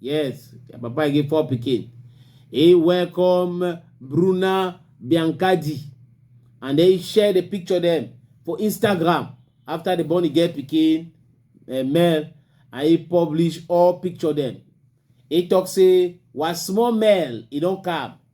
Yes, Papa get four pikin. He welcome Bruna Biancardi and then he share the picture them for Instagram after the born get pikin uh, eh, male and he publish all picture them. He talk say was small male he don't come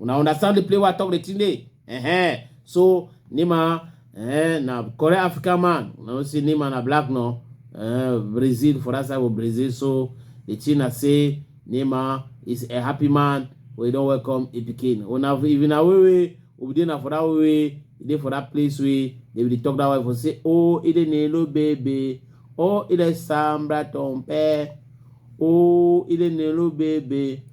una understand the play wey i talk the thing dey uh-huh. so nima uh, na correct african man una know say nima na black no uh, brazil for that side of brazil so the thing na say nima is a happy man wey don welcome a pikin una if na way wey obi dey na for that way wey e dey for that place wey they will talk that way for say oh e dey nelo baby oh e dey sambra tompe oh e dey nelo baby.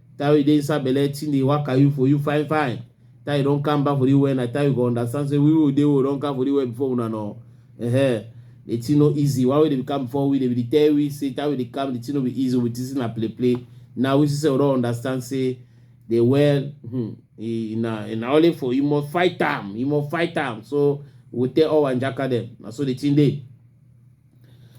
Time you dey inside belle, thing dey waka you for you fine fine. Time you don come back for the well, na time you go understand say we wey dey we don come for the well before una no. Uh-huh. The thing no easy. Why we dey come before we dey be tell we say time we dey come, the thing no be easy. We think say na play play. Now we see say we don understand say the well, hmm, e na e na only for you must fight am, you must fight am. So we tell all our njaka dem. Na so the thing dey.